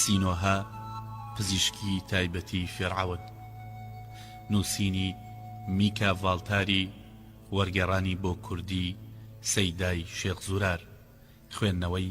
سینۆهە، پزیشکی تایبەتی فیرعەون. نووسینی، میکا ڤاڵتاری، وەرگێڕانی بۆ کوردی، سەیدای شێخ زورار. خوێندنەوەی.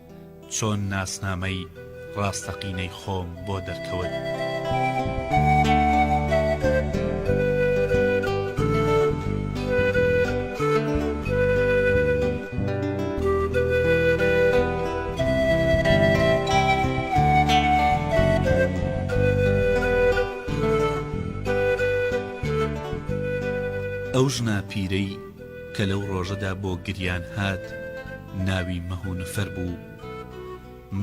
چۆن ناسنامەی ڕاستەقینەی خۆم بۆ دەرکەوت؟ کە لەو ڕۆژەدا بۆ گریان هات ناوی مەهونفەر بوو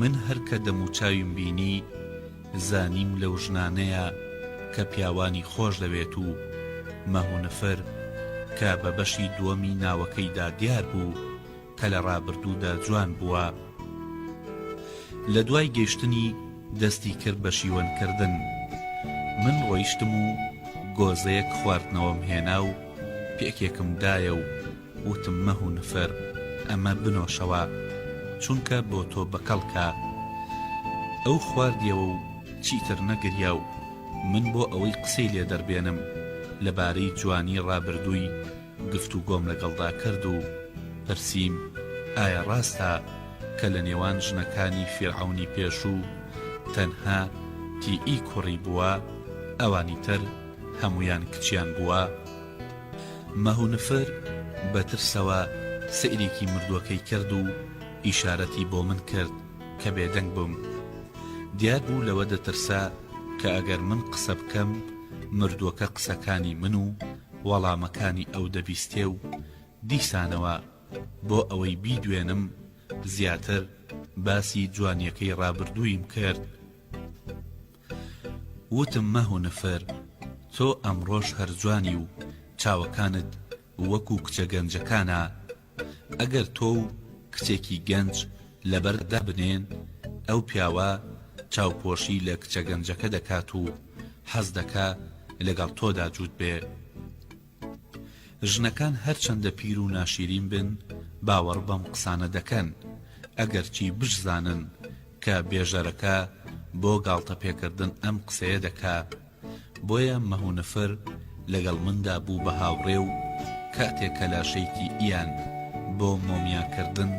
من هەر کە دەموچاویم بینی زانیم لەو ژنانەیە کە پیاوانی خۆش دەوێت و مەهونفەر کە بە بەشی دووەمی ناوەکەیدا دیار بوو کە لە ڕابردوودا جوان بووە لە دوای گەشتنی دەستی کرد بە شیوەن کردن من ڕۆیشتم و گۆزەیەک خواردنەوەم هێنا و پێکێکم دایە و وتم مەهو نفر ئەمە بنۆشەوە چونکە بۆ تۆ بە کەڵکە ئەو خواردیەوە و چیتر نەگریا و من بۆ ئەوەی قسەی لێ دەربێنم لە بارەی جوانی ڕابردووی گفتوگۆم لەگەڵدا کرد و پرسیم، ئایا ڕاستە کە لە نێوان ژنەکانی فیرعەونی پێشوو تەنها تیئی کوڕی بووە، ئەوانی تر هەموویان کچیان بووە؟ مەهونفر بە ترسەوە سەیرێکی مردووەکەی کرد و ئیشارەتی بۆ من کرد کە بێدەنگ بم. دیار بوو لەوە دەترسا کە ئەگەر من قسە بکەم، مردووەکە قسەکانی من و وەڵامەکانی ئەو دەبیستێ و دیسانەوە بۆ ئەوەی بیدوێنم زیاتر باسی جوانیەکەی ڕابردوویم کرد وتم مەهونفر تۆ ئەمڕۆش هەر جوانی و چاوەکانت وەکو کچە گەنجەکانە ئەگەر تۆ و کچێکی گەنج لەبەرد دابنێن، ئەو پیاوە چاوپۆشی لە کچە گەنجەکە دەکات و حەز دەکا لەگەڵ تۆدا جووت بێ. ژنەکان هەرچەندە پیر و ناشیرین بن، باوەڕ بەم قسانە دەکەن، ئەگەرچی بشزانن کە بێژەرەکە بۆ گاڵتەپێکردن ئەم قسەیە دەکا. بۆیە مهونفر لەگەڵ مندا بوو بە هاوڕێ و کاتێ کە لاشەیکی ئیان بۆ مۆمیا کردن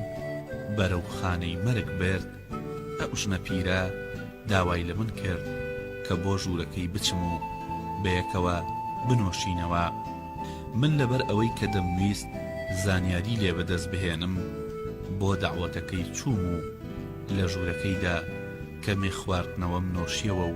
بەرەو خانەی مەرگ برد، ئەو ژنە پیرە داوای لە من کرد کە بۆ ژوورەکەی بچم و بەیەکەوە بنۆشینەوە. من لەبەر ئەوەی کە دەمویست زانیاری لێ بە دەست بهێنم بۆ دەعوەتەکەی چووم و لە ژوورەکەیدا کەمێ خواردنەوەم نۆشیەوە و،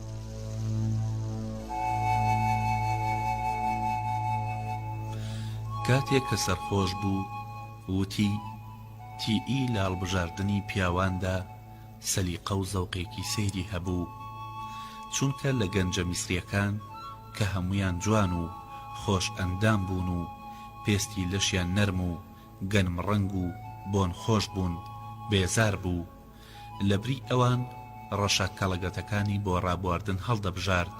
کاتێک کە سەرخۆش بوو وتی، تیئی لە هەڵبژاردنی پیاواندا سەلیقە و زەوقێکی سەیری هەبوو، چونکە لە گەنجە میسرییەکان کە هەموویان جوان و خۆش ئەندام بوون و پێستی لەشیان نەرم و گەنمڕەنگ و بۆنخۆش بوون، بێزار بوو. لەبری ئەوان ڕەشە کەڵەگەتەکانی بۆ ڕابواردن هەڵدەبژارد،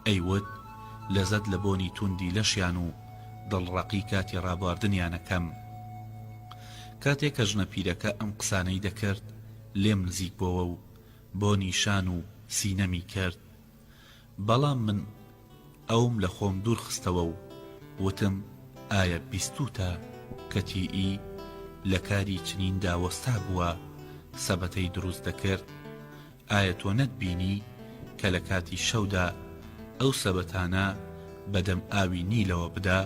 ئەیوت، لەزەت لە بۆنی توندی لەشیان و دڵڕەقی کاتی ڕابواردنیان ئەکەم. کاتێ کە ژنە پیرەکە ئەم قسانەی دەکرد، لێم نزیک بۆوە و بۆنی شان و سینەمی کرد. بەڵام من ئەوم لە خۆم دوور خستەوە و وتم ئایا بیستووتە کە تی ئی لە کاری چنین دا وەستا بووە سەبەتەی دروست دەکرد؟ ئایا تۆ نەتبینی کە لە کاتی شەودا ئەو سەبەتانە بە دەم ئاوی نیلەوە بدا؟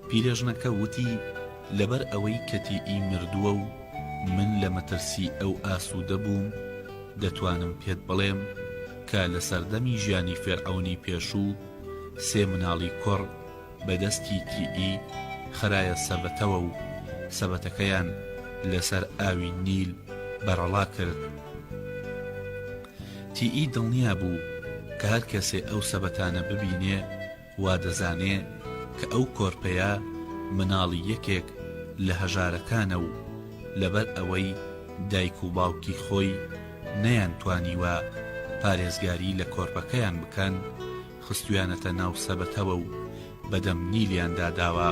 پیرێژنەکە وتی، لەبەر ئەوەی کەتی ئی مردووە و من لە مەترسی ئەو ئاسوودە بووم، دەتوانم پێت بڵێم کە لە سەردەمی ژیانی فێرعەونی پێشوو سێ مناڵی کوڕ بە دەستی تی ئی خرایە سەبەتەوە و سەبەتەکەیان لە سەر ئاوی نیل بەرەڵا کرد. تی ئی دڵنیا بوو کە هەر کەسێ ئەو سەبەتانە ببینێ، وا دەزانێ کە ئەو کۆرپەیە مناڵی یەکێک لە هەژارەکانە و لەبەر ئەوەی دایک و باوکی خۆی نەیان توانیوە پارێزگاری لە کۆرپەکەیان بکەن خستویانەتە ناو سەبەتەوە و بەدەم نیلیاندا داوە.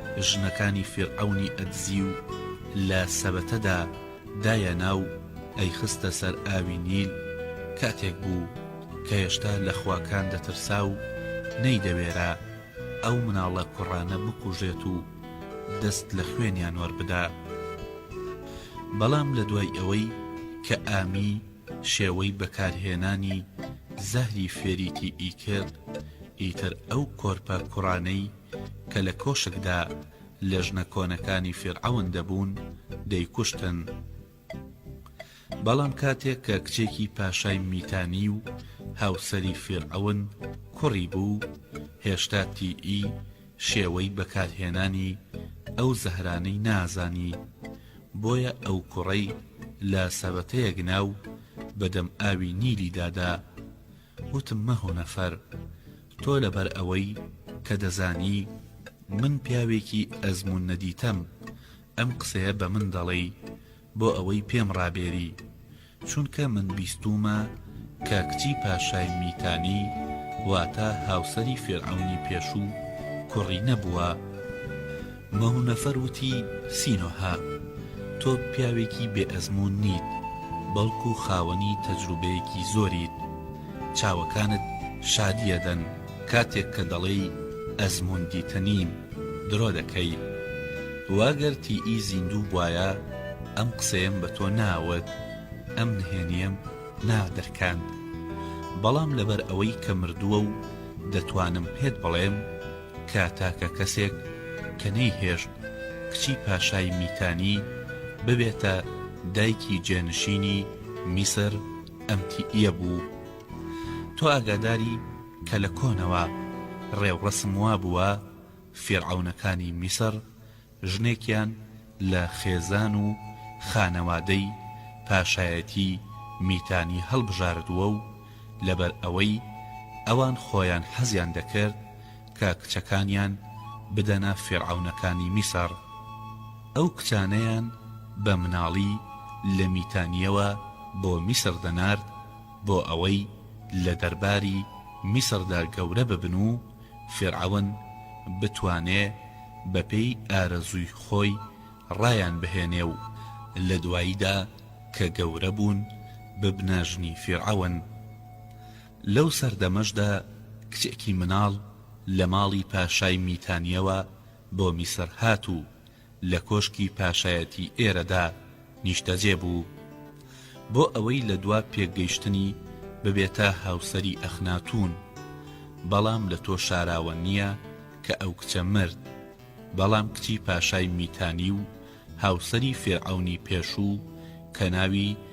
ژنەکانی فیرعەونی ئەدزی و لە سەبەتەدا دایەنا و ئەیخستە سەر ئاوی نیل، کاتێک بوو کە هێشتا لە خواکان دەترسا و نەیدەوێرا ئەو مناڵە کوڕانە بکوژێت و دەست لە خوێنیان وەربدا. بەڵام لە دوای ئەوەی کە ئامی شێوەی بەکارهێنانی زەهری فێریتی ئی کرد، ئیتر ئەو کۆرپە کوڕانەی، کە لە کۆشکدا لە ژنە کۆنەکانی فیرعەون دەبوون دەیکوشتن بەڵام کاتێک کە کچێکی پاشای میتانی و هاوسەری فیرعەون کوڕی بوو هێشتا تیئی شێوەی بەکارهێنانی ئەو زەهرانەی نازانی بۆیە ئەو کوڕەی لە سەبەتەیەک ناو بەدەم ئاوی نیلی دادا وتم مەهۆ نەفەر تۆ لەبەر ئەوەی کە دەزانی من پیاوێکی ئەزموون نەدیتەم ئەم قسەیە بە من دەڵێی بۆ ئەوەی پێم ڕابێری چونکە من بیستوومە کە کچی پاشای میتانی واتە هاوسەری فیرعەونی پێشوو کوڕی نەبووە. مەونەفەر وتی، سینۆهە، تۆ پیاوێکی بێ ئەزموون نیت، بەڵکو خاوەنی تەجروبەیەکی زۆریت. چاوەکانت شادی ئەدەن کاتێک کە دەڵێی ئەزموون دیتە نیم، درۆ دەکەی. وا گەر تیئی زیندوو بوایە ئەم قسەیەم بە تۆ ناوت، ئەم نهێنیەم نادرکاند. بەڵام لەبەر ئەوەی کە مردووە و دەتوانم پێت بڵێم، کە تاکە کەسێک کە نەیهێشت کچی پاشای میتانی ببێتە دایکی جێنشینی میسر ئەمتییە بوو. تۆ ئاگاداری کە لە کۆنەوە ڕێوڕەسم وابووە فیرعەونەکانی میسر ژنێکیان لە خێزان و خانەوادەی پاشایەتی میتانی هەڵبژاردووە و لەبەر ئەوەی ئەوان خۆیان حەزیان دەکرد کە کچەکانیان بدەنە فیرعەونەکانی میسر ئەو کچانەیان بە مناڵی لە میتانییەوە بۆ میسر دەنارد بۆ ئەوەی لە دەرباری میسردا گەورە ببن و فیرعەون بتوانێ بە پێی ئارەزووی خۆی ڕایان بهێنێ و لە دواییدا کە گەورە بوون ببنە ژنی فیرعەون. لەو سەردەمەشدا کچێکی مناڵ لە ماڵی پاشای میتانییەوە بۆ میسر هات و لە کۆشکی پاشایەتی ئێرەدا نیشتەجێ بوو بۆ ئەوەی لە دوا پێکگەیشتنی ببێتە هاوسەری ئەخناتوون، بەڵام لە تۆ شاراوە نییە کە ئەو کچە مرد، بەڵام کچی پاشای میتانی و هاوسەری فیرعەونی پێشوو کە ناوی،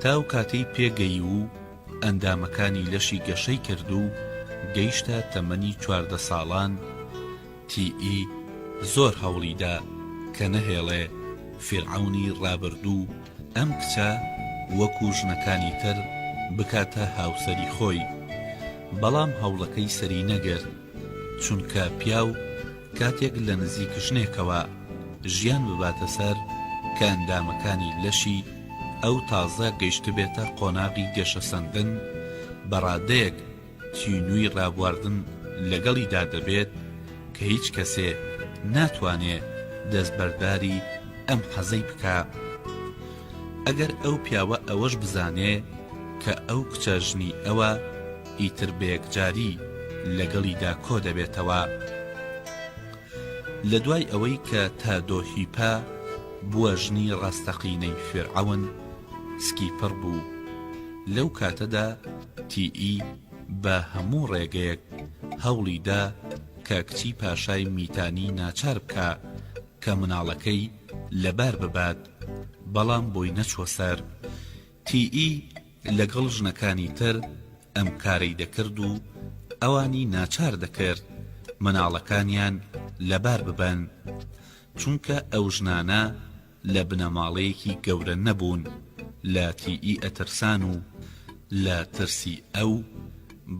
تا ئەو کاتەی پێگەیی و ئەندامەکانی لەشی گەشەی کرد و گەیشتە تەمەنی چواردە ساڵان، TE زۆر هەوڵی دا کە نەهێڵێ فیرعەونی ڕابردوو ئەم کچە وەکوو ژنەکانی تر بکاتە هاوسەری خۆی، بەڵام هەوڵەکەی سەری نەگرت، چونکە پیاو، کاتێک لە نزیک ژنێکەوە ژیان بباتە سەر کە ئەندامەکانی لەشی ئەو تازە گەیشتبێتە قۆناغی گەشەسەندن بە ڕادەیەک تینووی ڕابواردن لەگەڵیدا دەبێت کە هیچ کەسێ ناتوانێ دەستبەرداری ئەم حەزەی بکا ئەگەر ئەو پیاوە ئەوەش بزانێ کە ئەو کچە ژنی ئەوە ئیتر بەیەکجاری لەگەڵیدا کۆ دەبێتەوە. لە دوای ئەوەی کە تادۆ هیپە بووە ژنی ڕاستەقینەی فیرعەون، سکیپڕ بوو. لەو کاتەدا تی ئی بە هەموو ڕێگەیەک هەوڵی دا کە کچی پاشای میتانی ناچار بکا کە مناڵەکەی لەبار ببات، بەڵام بۆی نەچووە سەر. تیی لەگەڵ ژنەکانی تر ئەم کارەی دەکرد و ئەوانی ناچار دەکرد مناڵەکانیان لەبار ببەن، چونکە ئەو ژنانە لە بنەماڵەیەکی گەورە نەبوون لە تیی ئەترسان و لە ترسی ئەو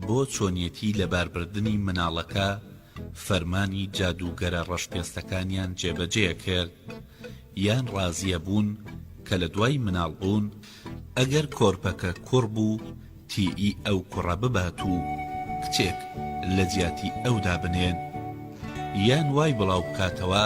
بۆ چۆنیەتی لەباربردنی مناڵەکە فەرمانی جادووگەرە ڕەشپێستەکانیان جێبەجێ کرد یان ڕازیە بوون کە لە دوای مناڵ بوون ئەگەر کۆرپەکە کوڕ بوو تیی ئەو کوڕە ببات و کچێک لە جیاتی ئەودا بنێن یان وای بڵاو بکاتەوە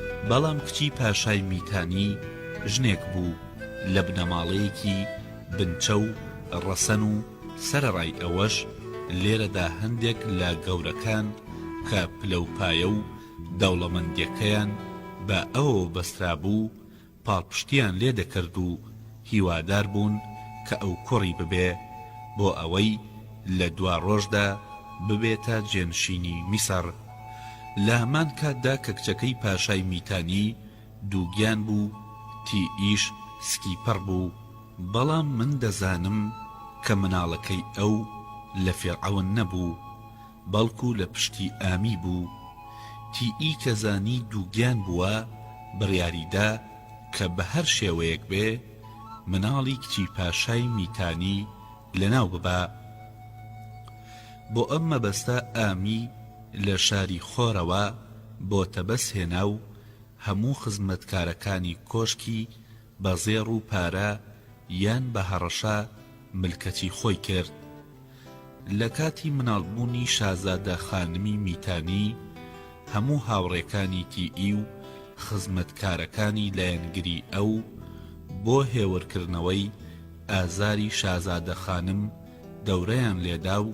بەڵام کچی پاشای میتانی ژنێک بوو لە بنەماڵەیەکی بنچە و ڕەسەن و سەرەڕای ئەوەش لێرەدا هەندێک لە گەورەکان کە پلەوپایە و دەوڵەمەندیەکەیان بە ئەوەوە بەسترابوو پاڵپشتییان لێ دەکرد و هیوادار بوون کە ئەو کوڕی ببێ بۆ ئەوەی لە دواڕۆژدا ببێتە جێنشینی میسڕ. لە هەمان کاتدا کە کچەکەی پاشای میتانی دووگیان بوو، تیئیش سکیپڕ بوو. بەڵام من دەزانم کە مناڵەکەی ئەو لە فیرعەون نەبوو. بەڵکو لە پشتی ئامی بوو تی ئی کە زانی دووگیان بووە بڕیاری دا کە بە هەر شێوەیەک بێ مناڵی کچی پاشای میتانی لە ناو ببا بۆ ئەم مەبەستە ئامی لە شاری خۆرەوە بۆ تەبەس هێنا و هەموو خزمەتکارەکانی کۆشکی بە زێڕ و پارە یان بە هەڕەشە ملکەچی خۆی کرد. لە کاتی مناڵبوونی شازادە خانمی میتانی، هەموو هاوڕێکانی تیئی و خزمەتکارەکانی لایەنگری ئەو، بۆ هێورکردنەوەی ئازاری شازادە خانم، دەورەیان لێدا و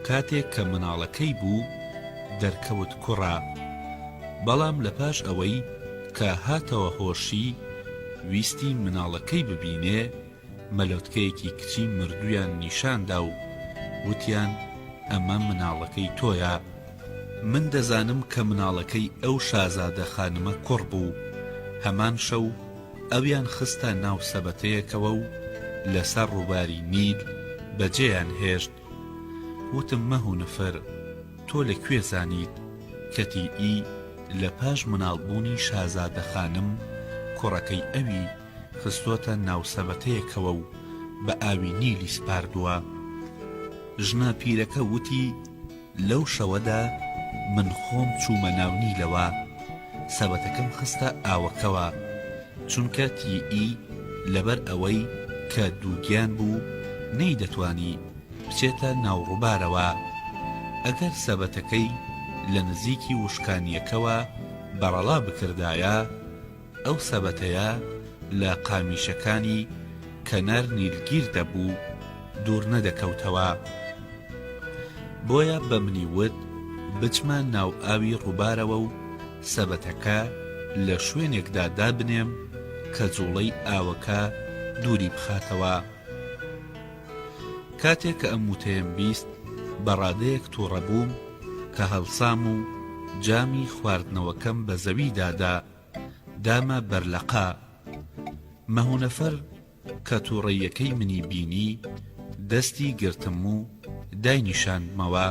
کاتێک کە مناڵەکەی بوو دەرکەوت کوڕە، بەڵام لە پاش ئەوەی کە هاتەوە هۆشی ویستی مناڵەکەی ببینێ مەلۆتکەیەکی کچی مردوویان نیشان دا و وتیان ئەمە مناڵەکەی تۆیە، من دەزانم کە مناڵەکەی ئەو شازادە خانمە کوڕ بوو، هەمان شەو، ئەویان خستە ناو سەبەتەیەکەوە و لەسەر ڕووباری نیل بەجێیان هێشت، وتم مەهونفر تۆ لە کوێ زانیت کەتی ئی لە پاش مناڵ بوونی شازادە خانم کوڕەکەی ئەوی خستۆتە ناو سەبەتەیەکەوە و بە ئاوی نیلی سپاردووە؟ ژنە پیرەکە وتی، لەو شەوەدا من خۆم چوومە ناو نیلەوە، سەبەتەکەم خستە ئاوەکەوە، چونکە تیی لەبەر ئەوەی کە دووگیان بوو نەیدەتوانی بچێتە ناو ڕووبارەوە، ئەگەر سەبەتەکەی لە نزیکی وشکانییەکەوە بەڕەڵا بکردایە، ئەو سەبەتەیە لە قامیشەکانی کەنەر نیلگیر دەبوو دوور نەدەکەوتەوە بۆیە بە منی وت بچمە ناو ئاوی ڕووبارەوە و سەبەتەکە لە شوێنێکدا دابنێم کە جوڵەی ئاوەکە دووری بخاتەوە کاتێ کە ئەم وتەیەم بیست بە ڕادەیەک توڕەبووم کە هەڵسام و جامی خواردنەوەکەم بە زەوی دادا دامە بەر لەقا مەهونەفەر کە توڕەیەکەی منی بینی دەستی گرتم و داینیشاندمەوە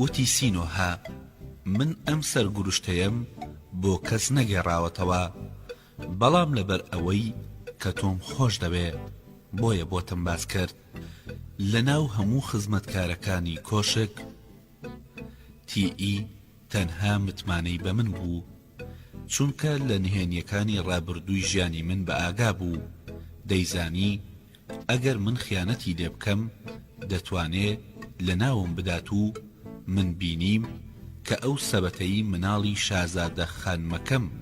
وتی سینۆهە من ئەم سەرگورشتەیەم بۆ کەس نەگێڕاوەتەوە بەڵام لەبەر ئەوەی کە تۆم خۆش دەوێ بۆیە بۆتم باس کرد لەناو هەموو خزمەتکارەکانی کۆشک تی ئی تەنها متمانەی بە من بوو چونکە لە نهێنیەکانی ڕابردووی ژیانی من بە ئاگا بوو دەیزانی ئەگەر من خیانەتی لێ بکەم دەتوانێ لە ناوم بدات و من بینیم کە ئەو سەبەتەی مناڵی شازادە خانمەکەم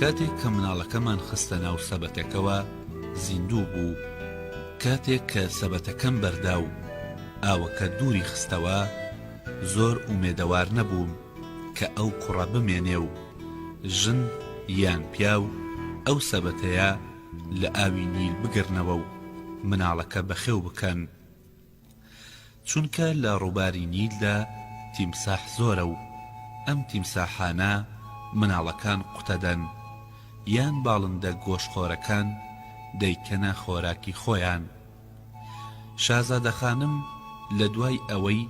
کاتێک کە مناڵەکەمان خستە ناو سەبەتەکەوە زیندوو بوو، کاتێک کە سەبەتەکەم بەردا و ئاوەکە دووری خستەوە، زۆر ئومێدەوار نەبووم کە ئەو کوڕە بمێنێ و ژن یان پیاو ئەو سەبەتەیە لە ئاوی نیل بگرنەوە و مناڵەکە بەخێو بکەن، چونکە لە ڕووباری نیلدا تیمساح زۆرە و ئەم تیمساحانە مناڵەکان قوتەدەن یان باڵندە گۆشتخۆرەکان دەیکەنە خۆراکی خۆیان. شازادەخانم لە دوای ئەوەی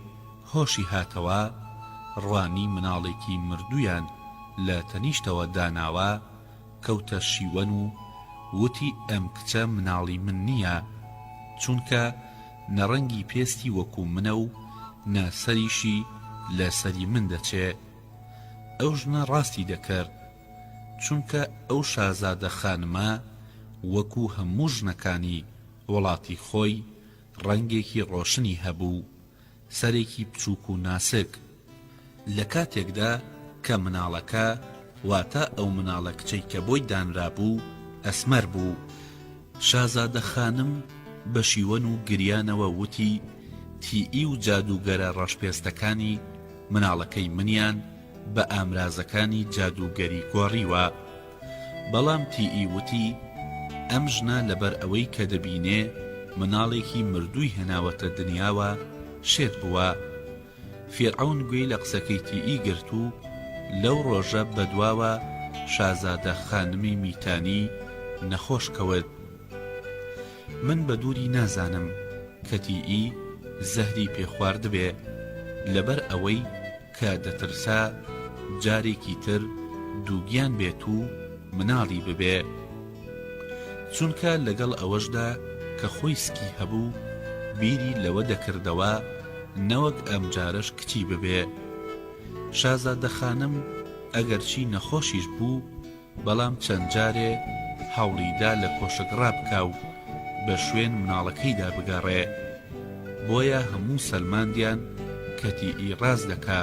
هۆشی هاتەوە، ڕوانی مناڵێکی مردوویان لە تەنیشتەوە داناوە، کەوتە شیوەن و وتی ئەم کچە مناڵی من نیە چونکە نە ڕەنگی پێستی وەکو منە و نە سەریشی لە سەری من دەچێ ئەو ژنە ڕاستی دەکرد چونکە ئەو شازادە خانمە وەکو هەموو ژنەکانی وڵاتی خۆی ڕەنگێکی ڕۆشنی هەبوو سەرێکی بچووک و ناسک. لە کاتێکدا کە مناڵەکە، واتە ئەو مناڵە کچەی کە بۆی دانرابوو، ئەسمەر بوو. شازادە خانم بە شیوەن و گریانەوە وتی، تیی و جادووگەرە ڕەشپێستەکانی مناڵەکەی منیان، بە ئامرازەکانی جادووگەری گۆڕیوە بەڵام تیی وتی ئەم ژنە لەبەر ئەوەی کە دەبینێ مناڵێکی مردووی هێناوەتە دنیاوە شێت بووە فیرعەون گوێی لە قسەکەی تیی گرت و لەو ڕۆژە بەدواوە شازادە خانمی میتانی نەخۆش کەوت من بە دووری نازانم کە تیی زەهری پێ خواردبێ لەبەر ئەوەی کە دەترسا جارێکی تر دووگیان بێت و مناڵی ببێ. چونکە لەگەڵ ئەوەشدا کە خۆی سکی هەبوو، بیری لەوە دەکردەوە نەوەک ئەمجارەش کچی ببێ. شازادەخانم ئەگەرچی نەخۆشیش بوو، بەڵام چەند جارێ هەوڵی دا لە کۆشک ڕابکا و بە شوێن مناڵەکەیدا بگەڕێ. بۆیە هەموو سەلماندیان کەتی ی ڕاست دەکا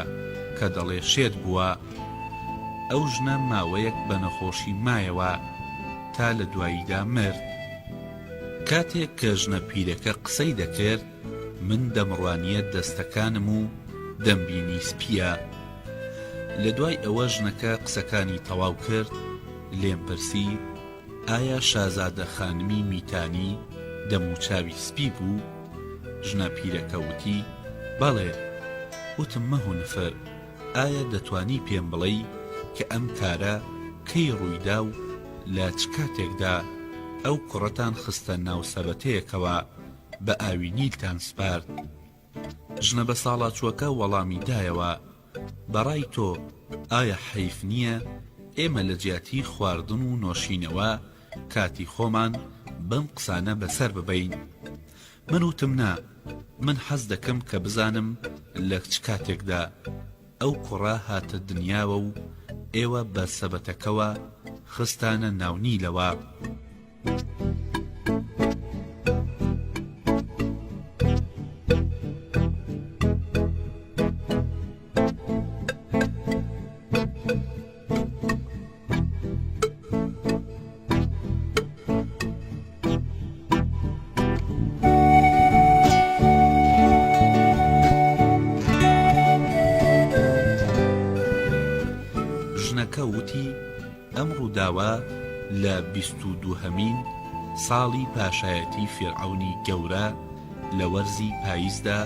کە دەڵێ شێت بووە. ئەو ژنە ماوەیەک بە نەخۆشی مایەوە تا لە دواییدا مرد. کاتێک کە ژنە پیرەکە قسەی دەکرد، من دەمڕوانیە دەستەکانم و دەمبینی سپیە لەدوای ئەوە ژنەکە قسەکانی تەواو کرد لێم پرسی ئایا شازادە خانمی میتانی دەموچاوی سپی بوو ژنە پیرەکە وتی بەڵێ وتم مەهونفر ئایا دەتوانی پێم بڵێی کە ئەم کارە کەی ڕوویدا و لە چ کاتێکدا ئەو کوڕەتان خستە ناو سەبەتەیەکەوە بە ئاوینیلتان سپارد. ژنە بەساڵاچووەکە وەڵامی دایەوە، بەڕای تۆ ئایا حەیف نییە ئێمە لە جیاتی خواردن و نۆشینەوە کاتی خۆمان بەم قسانە بەسەر ببەین؟ من وتم نا، من حەز دەکەم کە بزانم لە چ کاتێکدا. ئەو کوڕە هاتە دنیاوە و ئێوە بە سەبەتەکەوە خستانە ناو نیلەوە. ژنەکە وتی، ئەم ڕووداوە لە بیست و دووهەمین ساڵی پاشایەتی فیرعەونی گەورە لە وەرزی پاییزدا،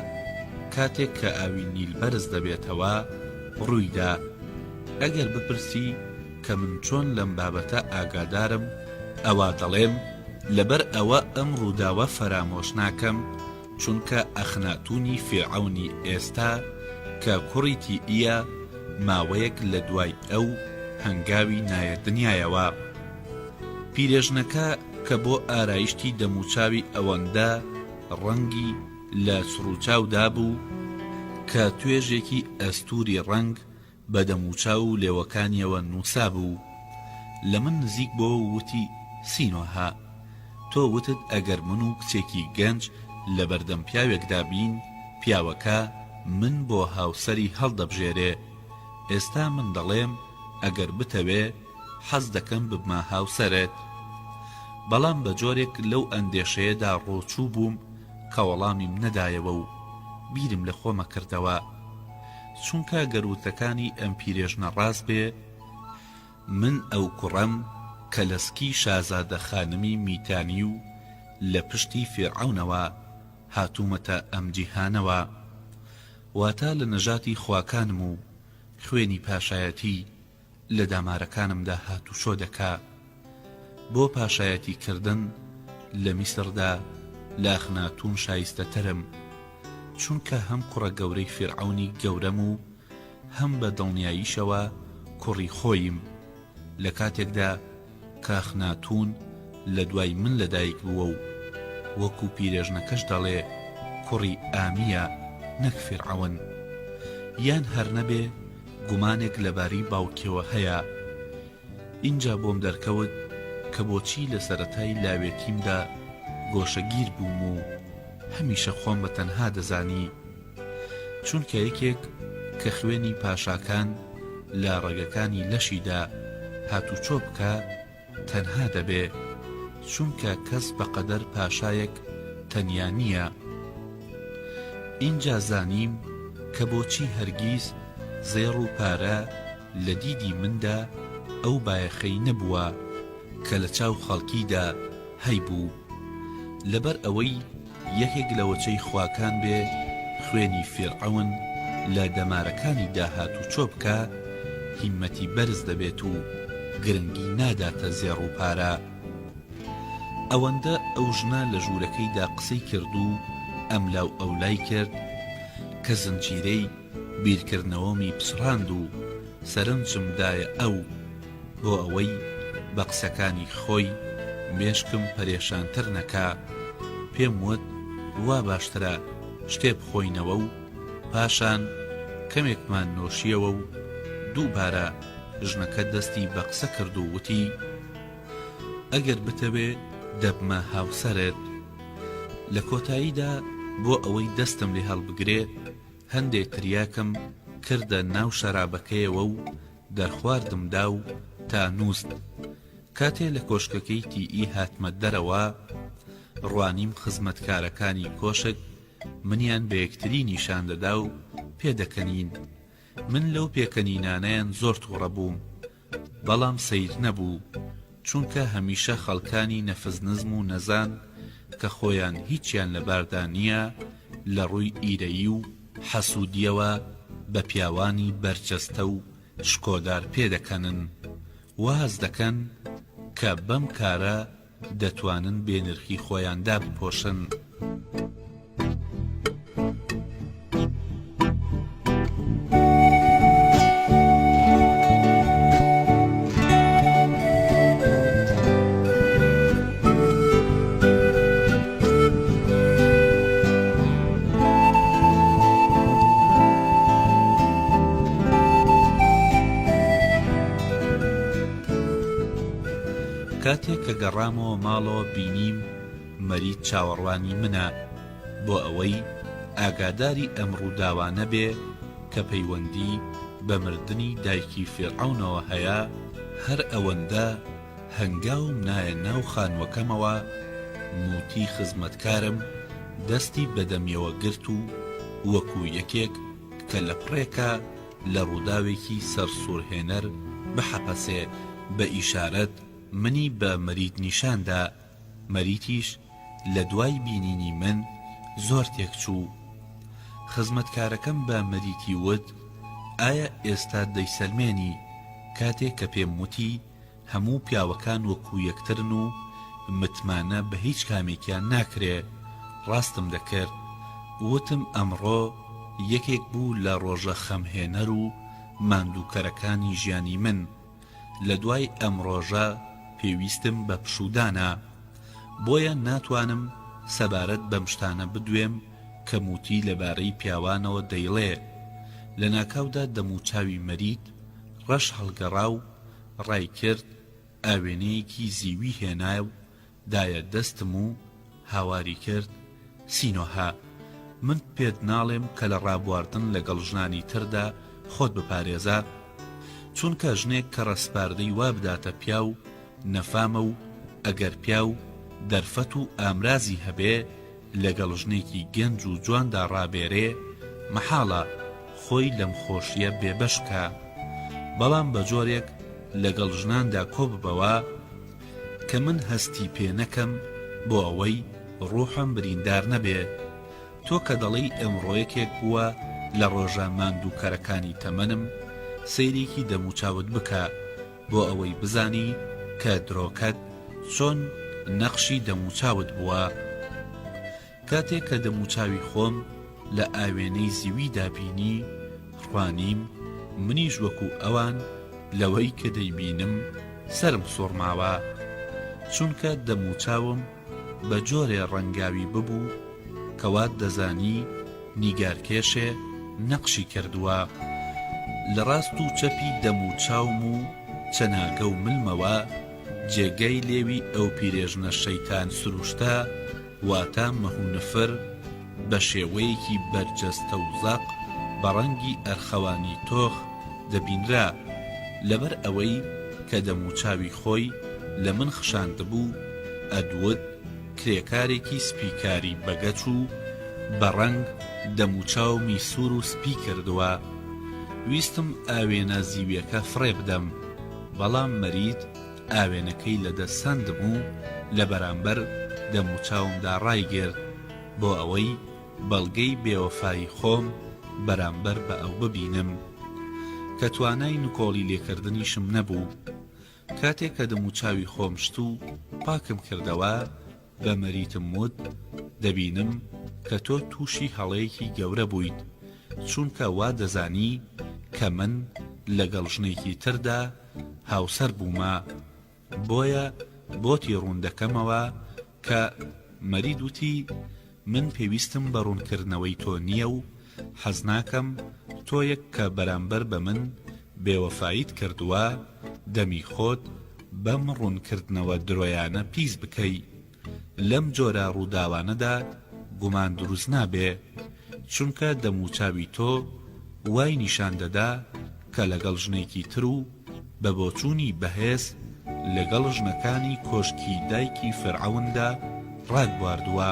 کاتێک کە ئاوی نیل بەرز دەبێتەوە، ڕوویدا. ئەگەر بپرسی کە من چۆن لەم بابەتە ئاگادارم، ئەوا دەڵێم لەبەر ئەوە ئەم ڕووداوە فەرامۆش ناکەم، چونکە ئەخناتوونی فیرعەونی ئێستا کە کوڕی تیئیە، ماوەیەک لە دوای ئەو هەنگاوی نایە دنیایەوە. پیرێژنەکە کە بۆ ئارایشتی دەموچاوی ئەوەندە ڕەنگی لە چڕوچاو دابوو کە توێژێکی ئەستووری ڕەنگ، بە دەموچاو و لێوەکانیەوە نوسابوو لە من نزیک بۆ و وتی، سینۆهە، تۆ وتت ئەگەر من و کچێکی گەنج لە بەردەم پیاوێکدا بین، پیاوەکە من بۆ هاوسەری هەڵدەبژێرێ، ئێستا من دەڵێم ئەگەر بتەوێ حەز دەکەم ببمە هاوسەرت. بەڵام بە جۆرێک لەو ئەندێشەیەدا ڕۆچوو بووم کە وەڵامیم نەدایەوە و بیرم لە خۆمە کردەوە. چونکە گەر وتەکانی ئەم پیرێژنە ڕاست بێ من ئەو کوڕەم کە لە سکی شازادە خانمی میتانی و لە پشتی فیرعەونەوە هاتوومەتە ئەم جیهانەوە واتە لە نەژاتی خواکانم و خوێنی پاشایەتی لە دامارەکانمدا هاتوچۆ دەکا بۆ پاشایەتی کردن لە میسردا لە ئەخناتوون شایستەترم چونکە هەم کوڕە گەورەی فیرعەونی گەورەم و هەم بە دڵنیاییشەوە کوڕی خۆییم لە کاتێکدا کاخناتوون لە دوای من لە دایک بووە و وەکو پیرێژنەکەش دەڵێ کوڕی ئامییە نەک فیرعەون. یان هەر نەبێ گومانێک لەبارەی باوکیەوە هەیە. ئینجا بۆم دەرکەوت کە بۆچی لە سەرەتای لاوێتیمدا گۆشەگیر بووم و هەمیشە خۆم بە تەنها دەزانی. چونکە یەکێک کە خوێنی پاشاکان لە ڕەگەکانی لەشیدا هاتوچۆ بکا تەنها دەبێ، چونکە کەس بەقەدەر پاشایەک تەنیا نییە. ئینجا زانیم کە بۆچی هەرگیز زێڕ و پارە لە دیدی مندا ئەو بایەخەی نەبووە کە لە چاو خەڵکیدا هەیبوو. لەبەر ئەوەی. یەکێک لە وەچەی خواکان بێ خوێنی فیرعەون لە دەمارەکانی دا هاتوچۆ بکا هیمەتی بەرز دەبێت و گرنگی ناداتە زێڕ و پارە ئەوەندە ئەو ژنە لە ژوورەکەی دا قسەی کرد و ئەملاو ئەولای کرد کە زنجیرەی بیرکردنەوەمی پچڕاند و سەرنجم دایە ئەو بۆ ئەوەی بە قسەکانی خۆی مێشکم پەرێشانتر نەکا، پێم وت وا باشترە شتێ بخۆینەوە و پاشان کەمێکمان نۆشیەوە و دووبارە ژنەکە دەستی بە قسە کرد و وتی، ئەگەر بتەوێ دەبمە هاوسەرت. لە کۆتاییدا بۆ ئەوەی دەستم لێ هەڵبگرێ هەندێ تریاکم کردە ناو شەرابەکەیەوە و دەرخواردم دا و تا نوست کاتێ لە کۆشکەکەی تی ئی هاتمە دەرەوە ڕوانیم خزمەتکارەکانی کۆشک منیان بە یەکتری نیشان دەدا و پێ دەکەنین من لەو پێکەنینانەیان زۆر توڕە بووم بەڵام سەیر نەبوو چونکە هەمیشە خەڵکانی نەفس نزم و نەزان کە خۆیان هیچیان لە باردا نیە لە ڕووی ئیرەیی و حەسودیەوە بە پیاوانی بەرجەستە و شکۆدار پێدەکەنن واز دەکەن کە بەم کارە دەتوانن بێ نرخی خۆیان دابپۆشن. کاتێک کە گەڕامەوە ماڵەوە بینیم مەرید چاوەڕوانی منە بۆ ئەوەی ئاگاداری ئەم ڕووداوانە بێ کە پەیوەندی بە مردنی دایکی فیرعەونەوە هەیە هەر ئەوەندە هەنگاوم نایە ناو خانووەکەمەوە، موتی خزمەتکارم دەستی بە دەمیەوە گرت و وەکو یەکێک کە لە پڕێکە لە ڕووداوێکی سەرسوڕهێنەر بحەپەسێ بە ئیشارەت منی بە مەریت نیشان دا، مەریتیش لە دوای بینینی من زۆر تێکچوو. خزمەتکارەکەم بە مەریتی وت، ئایا ئێستا دەیسەلمێنی؟ کاتێ کە پێم وتی، هەموو پیاوەکان وەکو یەکترن و متمانە بە هیچ کامێکیان ناکرێ ڕاستم دەکرد وتم ئەمڕۆ یەکێک بوو لە ڕۆژە خەم هێنەر و ماندوو کەرەکانی ژیانی من لە دوای ئەم ڕۆژە پێویستم بە پشوودانە بۆیە ناتوانم سەبارەت بەم شتانە بدوێم کە موتی لە بارەی پیاوانەوە دەیڵێ لە ناکاودا دەموچاوی مەرید ڕەش هەڵگەڕا و ڕایکرد، ئاوێنەیەکی زیوی هێنایە و دایە دەستم و هاواری کرد، سینۆهە، من پێت ناڵێم کە لە ڕابواردن لەگەڵ ژنانی تردا خۆت بپارێزە، چونکە ژنێک کە ڕەسپاردەی وا بداتە پیاو نەفامە و ئەگەر پیاو دەرفەت و ئامرازی هەبێ، لەگەڵ ژنێکی گەنج و جواندا ڕابێرێ مەحاڵە خۆی لەم خۆشیە بێ بەش بکا بەڵام بە جۆرێک لەگەڵ ژناندا کۆ ببەوە کە من هەستی پێ نەکەم بۆ ئەوەی ڕوحم بریندار نەبێ تۆ کە دەڵێی ئێمڕۆ یەکێک بووە لە ڕۆژە ماندووکەرەکانی تەمەنم سەیرێکی دەموچاوت بکە بۆ ئەوەی بزانی کە درۆکەت چۆن نەقشی دەموچاوت بووە کاتێک کە دەموچاوی خۆم لە ئاوێنەی زیویدا بینی ڕوانیم منیش وەکو ئەوان لەوەی کە دەیبینم سەرم سوڕماوە چونکە دەموچاوم بە جۆرێ ڕەنگاوی ببوو کە وات دەزانی نیگارکێشێ نەقشی کردووە لە ڕاست و چەپی دەم و چاوم و چەناگە و ملمەوە، جێگای لێوی ئەو پیرێژنە شەیتان سرووشتە، واتە مەهونفر، بەشێوەیەکی بەرجەستە و زەق بە ڕەنگی ئەرخەوانی تۆخ دەبینرا، لەبەر ئەوەی کە دەموچاوی خۆی لە من خشاندبوو، ئەدوود کرێکارێکی سپی کاری بە گەچ و بە ڕەنگ دەموچاومی سوور و سپی کردووە. ویستم ئاوێنە زیویەکە فڕێ بدەم، بەڵام مەرید ئاوێنەکەی لە دەست سەندم و لە بەرامبەر دەموچاومدا ڕایگرت. بۆ ئەوەی بەڵگەی بێوەفایی خۆم بەرامبەر بە ئەو ببینم کە توانای نکۆڵی لێکردنیشم نەبوو کاتێک کە دەموچاوی خۆم شت و پاکم کردەوە بە مەریتم وت دەبینم کە تۆ تووشی هەڵەیەکی گەورە بوویت چونکە وا دەزانی کە من لەگەڵ ژنێکی تردا هاوسەر بوومە بۆیە بۆتی ڕوون دەکەمەوە کە مەرید وتی من پێویستم بە ڕوونکردنەوەی تۆ نییە و حەزناکەم تۆیەک کە بەرامبەر بە من بێوەفاییت کردووە دەمی خۆت بەم ڕوونکردنەوە درۆیانە پیس بکەی. لەم جۆرە ڕووداوانەدا گومان دروست نابێ، چونکە دەموچاوی تۆ وای نیشان دەدا کە لەگەڵ ژنێکی تر و بە بۆچوونی بەهێز لەگەڵ ژنەکانی کۆشکی دایکی فیرعەوندا ڕات بواردووە.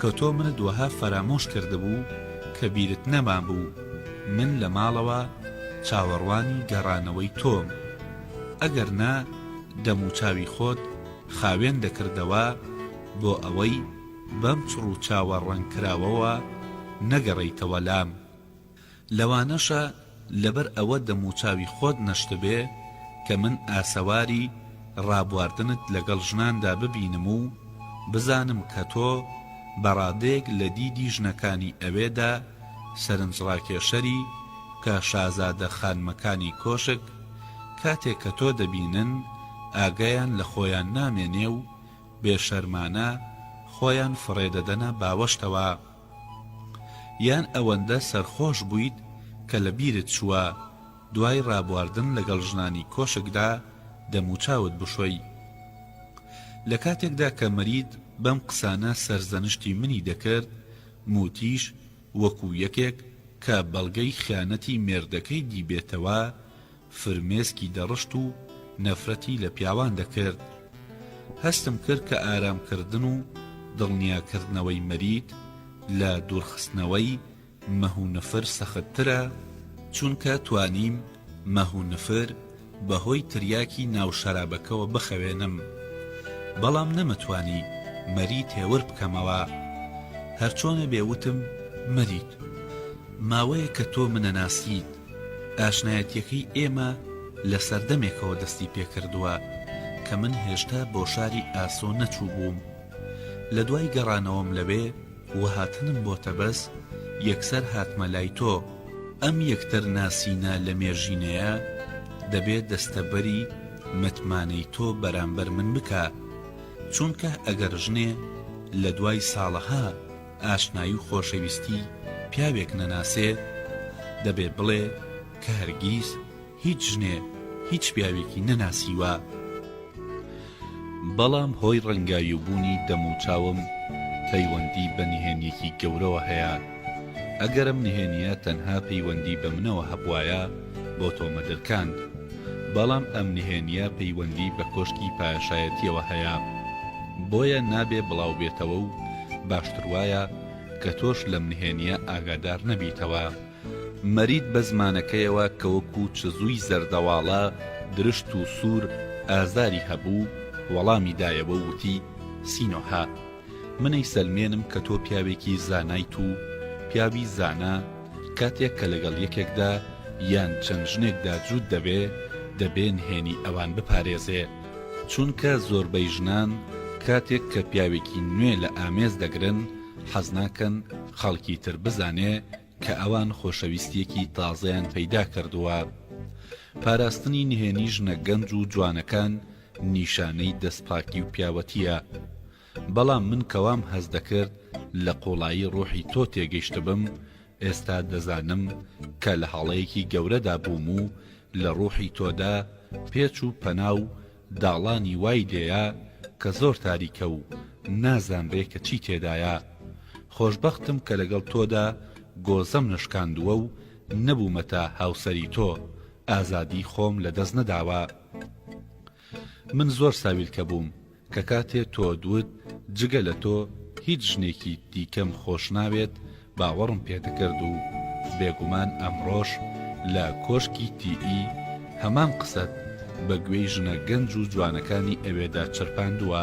کە تۆ منت وەها فەرامۆش کردبوو کە بیرت نەمابوو من لە ماڵەوە چاوەڕوانی گەڕانەوەی تۆم ئەگەر نا دەموچاوی خۆت خاوێن دەکردەوە بۆ ئەوەی بەم چڕوچاوە ڕەنگکراوەوە نەگەڕێیتەوە لام. لەوانەشە لەبەر ئەوە دەموچاوی خۆت نەشتبێ کە من ئاسەواری ڕابواردنت لەگەڵ ژناندا ببینم و بزانم کە تۆ بە ڕادەیەک لە دیدی ژنەکانی ئەوێدا سەرنجڕاکێشەری کە شازادە خانمەکانی کۆشک کاتێک کە تۆ دەبینن ئاگایان لە خۆیان نامێنێ و بێ شەرمانە خۆیان فڕێدەدەنە باوەشتەوە. یان ئەوەندە سەرخۆش بوویت کە لە بیرت چووە دوای ڕابواردن لەگەڵ ژنانی کۆشکدا دەموچاوت بشۆی؟ لە کاتێکدا کە مەرید بەم قسانە سەرزەنشتی منی دەکرد، موتیش وەکو یەکێک کە بەڵگەی خیانەتی مێردەکەی دیبێتەوە، فرمێسکی دەڕشت و نەفرەتی لە پیاوان دەکرد. هەستم کرد کە ئارامکردن و دڵنیاکردنەوەی مەریت لە دوورخستنەوەی مەه و نفر سەختترە، چونکە توانیم مەه و نفر بەهۆی تریاکی ناو شەرابەکەوە بخەوێنم، بەڵام نەمتوانی مەریت هێور بکەمەوە. هەرچۆنێ بێ وتم، مەریت! ماوەیەکە تۆ منەناسیت. ئاشنایەتیەکەی ئێمە لە سەردەمێکەوە دەستی پێکردووە کە من هێشتا بۆ شاری ئاسۆ نەچووبووم لە دوای گەڕانەوەم لەوێ و هاتنم بۆ تەبەس یەکسەر هاتمە لای تۆ ئەم یەکتر ناسینە لە مێژینەیە دەبێ دەستەبەری متمانەی تۆ بەرامبەر من بکا چونکه ئەگەر ژنێ لە دوای ساڵەها ئاشنایی و خۆشەویستی پیاوێک نەناسێ دەبێ بڵێ کە هەرگیز هیچ ژنێ هیچ پیاوێکی نەناسیوە بەڵام هۆی ڕەنگاویو بوونی دەم و چاوم پەیوەندی بە نهێنیەکی گەورەوە هەیە ئەگەر ئەم نهێنیە تەنها پەیوەندی بە منەوە هەبوایە بۆ تۆ مەدرکاند بەڵام ئەم نهێنیە پەیوەندی بە کۆشکی پاشایەتیەوە هەیە بۆیە نابێ بڵاوبێتەوە و باشتر وایە کە تۆش لەم نهێنییە ئاگادار نەبیتەوە. مەرید بە زمانەکەیەوە کە وەکو چزووی زەردەواڵە درشت و سوور ئازاری هەبوو، وەڵامی دایەوە و وتی، سینۆهە! من ئەیسەلمێنم کە تۆ پیاوێکی زانایت و پیاوی زانا کاتێک کە لەگەڵ یەکێکدا یان چەند ژنێکدا جووت دەبێ، دەبێ نهێنی ئەوان بپارێزێ. چونکە زۆربەی ژنان کاتێک کە پیاوێکی نوێ لە ئامێز دەگرن، حەز ناکەن خەڵکی تر بزانێ کە ئەوان خۆشەویستییەکی تازەیان پەیدا کردووە. پاراستنی نهێنی ژنە گەنج و جوانەکان نیشانەی دەستپاکی و پیاوەتییە. بەڵام من کە وام هەست دەکرد لە قوڵایی ڕوحی تۆ تێگەیشتبم، ئێستا دەزانم کە لە هەڵەیەکی گەورەدا بووم و لە ڕوحی تۆدا پێچ و پەنا و داڵانی وای لێیە کە زۆر تاریکە و نازانرێ کە چی تێدایە. خۆشبەختم کە لەگەڵ تۆدا گۆزەم نەشکاندووە و نەبوومەتە هاوسەری تۆ، ئازادی خۆم لە دەست نەداوە. من زۆر ساویلکە بووم کە کاتێ تۆت وت جگە لە تۆ هیچ ژنێکی دیکەم خۆش ناوێت باوەڕم پێ دەکرد و بێگومان ئەمڕۆش لە کۆشکی تی ئی هەمان قسەت بە گوێی ژنە گەنج و جوانەکانی ئەوێدا چرپاندووە،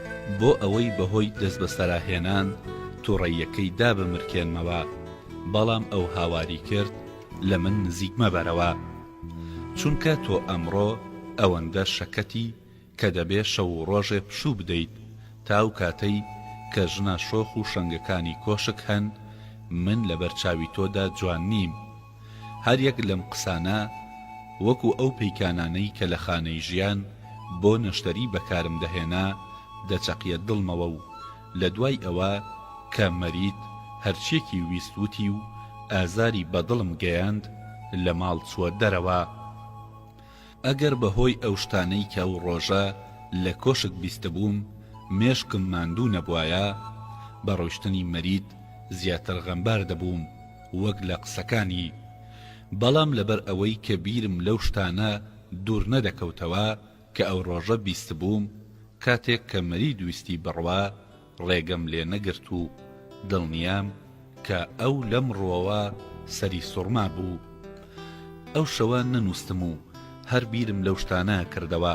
بۆ ئەوەی بەهۆی دەستبەسەراهێنان توڕەیەکەی دابمرکێنمەوە، بەڵام ئەو هاواری کرد، لە من نزیک مەبەرەوە، چونکە تۆ ئەمڕۆ ئەوەندە شەکەتی کە دەبێ شەو و ڕۆژێ پشوو بدەیت، تا ئەو کاتەی کە ژنە شۆخ و شەنگەکانی کۆشک هەن، من لەبەر چاوی تۆدا جوان نیم. هەر یەک لەم قسانە وەکو ئەو پەیکانانەی کە لە خانەی ژیان بۆ نەشتەری بەکارم دەهێنا دەچەقیە دڵمەوە و لە دوای ئەوە کە مەرید هەرچیەکی ویست وتی و ئازاری بە دڵم گەیاند لە ماڵ چوە دەرەوە. ئەگەر بە هۆی ئەو شتانەی کە ئەو ڕۆژە لە کۆشک بیستبووم مێشکم ماندوو نەبوایە بە ڕۆیشتنی مەرید زیاتر غەمبار دەبووم. وەک لە قسەکانی، بەڵام لەبەر ئەوەی کە بیرم لەو شتانە دوور نەدەکەوتەوە کە ئەو ڕۆژە بیستبووم، کاتێک کە مەرید ویستی بڕوا، ڕێگەم لێ نەگرت و دڵنیام کە ئەو لەم ڕووەوە سەری سوڕمابوو. ئەو شەوە نەنووستم و هەر بیرم لەو شتانە کردەوە.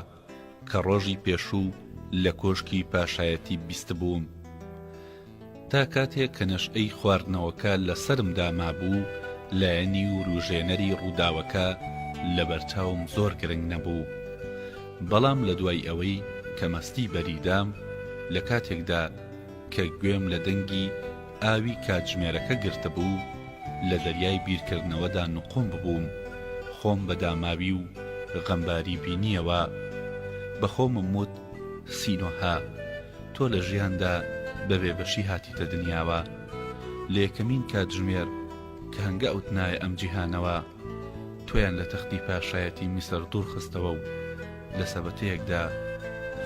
کە ڕۆژی پێشوو لە کۆشکی پاشایەتی بیستبووم. تا کاتێک کە نەشئەی خواردنەوەکە لە سەرمدا مابوو، لایەنی ورووژێنەری ڕووداوەکە لەبەرچاوم زۆر گرنگ نەبوو. بەڵام لە دوای ئەوەی کە مەستی بەریدام، لە کاتێکدا کە گوێم لە دەنگی ئاوی کاتژمێرەکە گرتبوو، لە دەریای بیرکردنەوەدا نقوم ببووم، خۆم بە داماوی و غەمباری بینییەوە. بە خۆمم وت، سینۆهە، تۆ لە ژیاندا بە بێبەشی هاتیتە دنیاوە. لە یەکەمین کاتژمێر کە هەنگاوت نایە ئەم جیهانەوە، تۆیان لە تەختی پاشایەتی میسر دوورخستەوە و لە سەبەتەیەکدا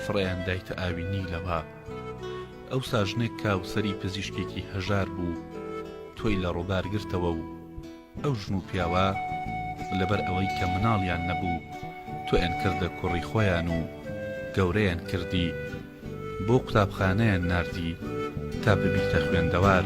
فڕێیان دایتە ئاوی نیلەوە. ئەوسا ژنێک کاوسەری پزیشکێکی هەژار بوو تۆی لە ڕوبار گرتەوە و ئەو ژن و پیاوە لەبەر ئەوەی کە مناڵیان نەبوو تۆیان کردە کوڕی خۆیان و گەورەیان کردی بۆ قوتابخانەیان ناردی تا ببیتە خوێندەوار.